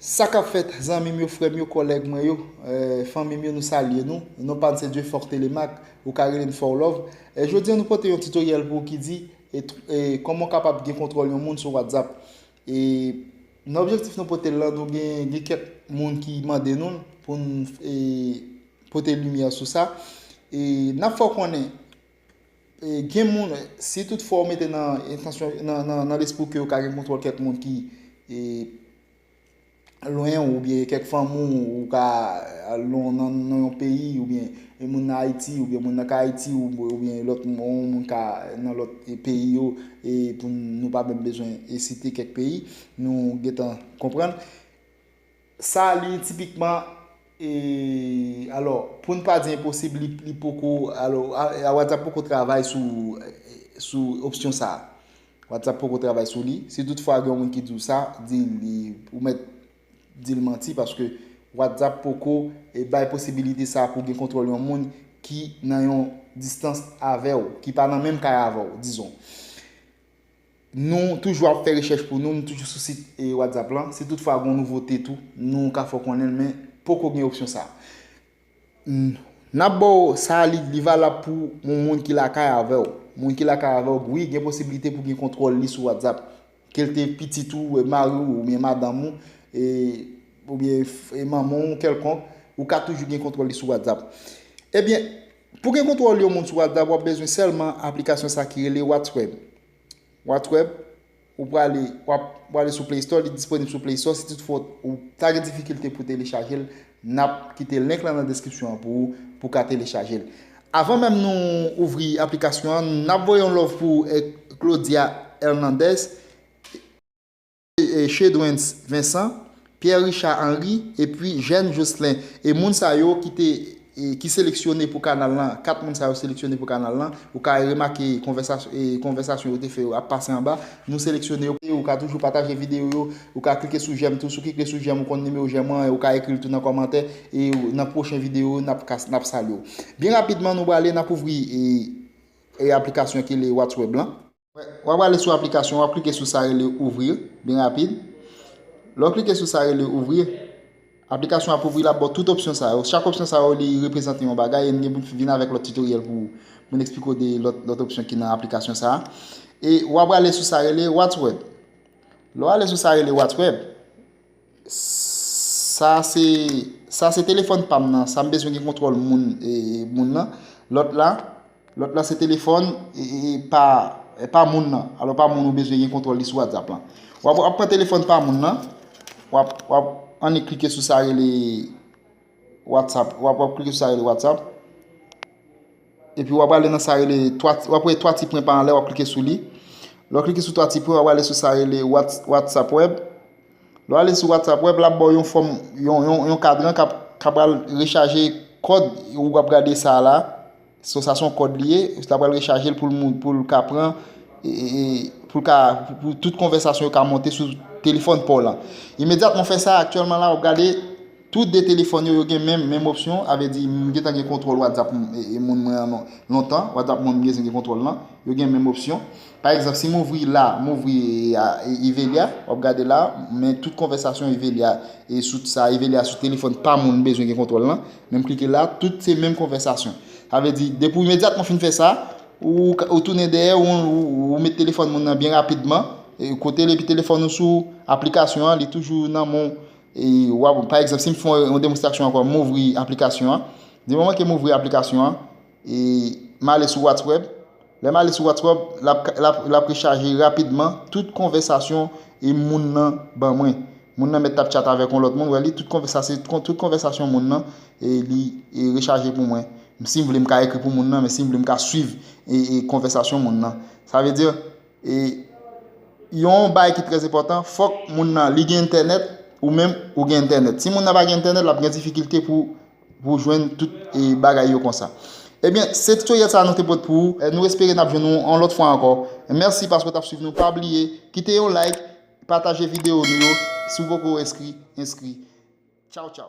Sa kap fèt zanmim yo frèm yo kòlèg mwen yo fanmim yo nou salye nou non pam se Dieufort Thélémaque ou ka relem Forlove jodi an nou pote yon tutoriel pou ou ki di kòman ou kapab gen kontwòl yon moun sou WhatsApp nan objektif nou potel lan nou gen kèk moun ki mande nou poun pote limyè sou sa nap fè ou konnen Gen moun, si tout fwa ou mete nan entansyon, nan lespri w ke ou ka gen kontwòl kèk moun ki lwen ou, oubyen kèk fanmi w, ou ka nan yon peyi, oubyen yon moun nan Ayiti, oubyen yon moun nan Kayiti, oubyen lòt moun ka nan lòt peyi yo, e pou nou pa menm bezwen site kèk peyi, nou gen tan konprann. Sa li tipikman e alò pou n pa di enposib li poko alò WhatsApp poko travay sou sou opsyon sa a. WhatsApp poko travay sou li. Si tout fwa gen yon moun ki di w sa, di l li ou mèt di l manti paske WhatsApp poko e bay posibilite sa a pou w gen kontwòl yon moun ki nan yon distans avè w, ki pa nan menm kay avè w dizon. Nou toujou ap fè rechèch pou nou, nou toujou sou sit WhatsApp lan. Si tout fwa gon nouvote tou, nou ka fè w konnen l men poko gen opsyon sa. N ap ba w sa li valab pou yon moun ki lakay avè w. Moun ki lakay avè w, wi gen posibilite pou gen kontwòl li sou WhatsApp. Ke l te pitit ou, mari w, oubyen madanm ou, oubyen manman w kèlkonk, ou ka toujou gen kontwòl li sou WhatsApp. Ebyen, Pou gen kontwòl yon moun sou WhatsApp wap bezwen sèlman aplikasyon sa ki rele What'sweb. What'sweb ou prale wap prale sou play store li disponib sou play store si tout fwa ou ta gen difikilte pou telechajel nap kite link lan nan deskripsyon an pou ou pou ka telechajel. Avan menm nou ouvri aplikasyon an nap voye yon love pou Claudia Hernandez. Chedwens Vensan, Pierre Richard Henry epi Jèn Jocelin e moun sa yo ki te ki seleksyone pou kanal lan, 4 moun sa yo seleksyone pou kanal lan, ou ka remake konvèsasyon yo te fè yo ap pase anba, nou seleksyone yo. Ou ka toujou pataje videyo yo, ou ka klike sou jèm tou, si w kikle sou jèm ou konn nimewo jèm an, ou ka ekri l tou nan kòmantè e nan pwochen videyo yo nap ka nap salye w. Byen rapidman nou prale nap ouvri aplikasyon ki rele What's Web lan. Wap ale sou aplikasyon wap klike sou sa rele ouvrir Byen rapid Lè w klike sou sa rele ouvrir Aplikasyon ap ouvri lap baw tout opsyon sa yo Chak opsyon sa yo li reprezante yon bagay e m gen pou m vin avèk lòt tutoriel pou ou Pou m eksplike w de lòt opsyon ki nan aplikasyon sa E wap ale sou sa rele what's web Lè w ale sou sa rele what's web Sa se Sa se telefòn pam nan sa m bezwen gen kontwòl moun moun nan lòt la lòt la se telefòn pa pa moun nan alò pa moun ou bezwen gen kontwòl li sou whatsapp lan w ap pran telefòn pa moun nan w ap w ap annik klike sou sa rele whatsapp w ap klike sou sa rele whatsapp Epi wap ale nan sa rele wap wè 3 ti pwen pa anlè wap klike sou li lè w klike sou 3 ti pwen wap ale sou sa rele whatsapp web lè w ale sou whatsapp web lap baw yon fòm yon kadran kap pral rechaje kòd ou wap gade sa la so sa son kòd li ye lap pral rechaje l pou l ka pran pou l ka pou tout konvèsasyon yo ka monte sou telefòn paw lan imedyatman w fè sa aktyèlman la wap gade Tou 2 telefòn yo, yo gen menm menm opsyon, sa vle di m gentan gen kontwòl whatsapp moun mwen an lontan, whatsapp moun m genzen gen kontwòl lan, yo gen menm opsyon. Pa egzanp si m ouvri la, m ouvri Ivelia, w ap gade la, men tout konvèsasyon Ivelia e sou sa Ivelia sou telefòn pa moun m bezwen gen kontwòl lan, men m klike la, tout se menm konvèsasyon. Sa vle di depi w imedyatman fin fè sa, ou tounen dèyè, ou met telefòn moun nan byen rapidman kote l epi telefòn ou sou aplikasyon an, li toujou nan men w. Wap, pa egzanp, si m fè yon demonstraksyon ankò, m ouvri aplikasyon an. Di moman ke m ouvri aplikasyon an, e m ale sou Watsweb. Lè m ale sou Watsweb, l ap rechaje rapidman tout konvèsasyon e moun nan ban mwen. Moun nan mèt tap tchat avèk yon lòt moun, wè li, tout konvèsasyon moun nan e li rechaje pou mwen. Si m vle m ka ekri pou moun nan, men si m vle m ka swiv konvèsasyon moun nan. Sa vle di. E yon bay ki trèz enpòtan, fòk moun nan li gen entènèt, ou menm ou gen entènèt. Si moun nan pa gen entènèt, l ap gen difikilte pou jwenn tout bagay yo konsa. Ebyen, se titoryèl sa nou te pot pou ou. Nou espere n ap jwenn ou yon lòt fwa ankò. Mèsi paske w t ap swiv nou. Pa bliye, kite yon like, pataje videyo nou yo. Si w poko enskri, enskri. Tchaw tchaw.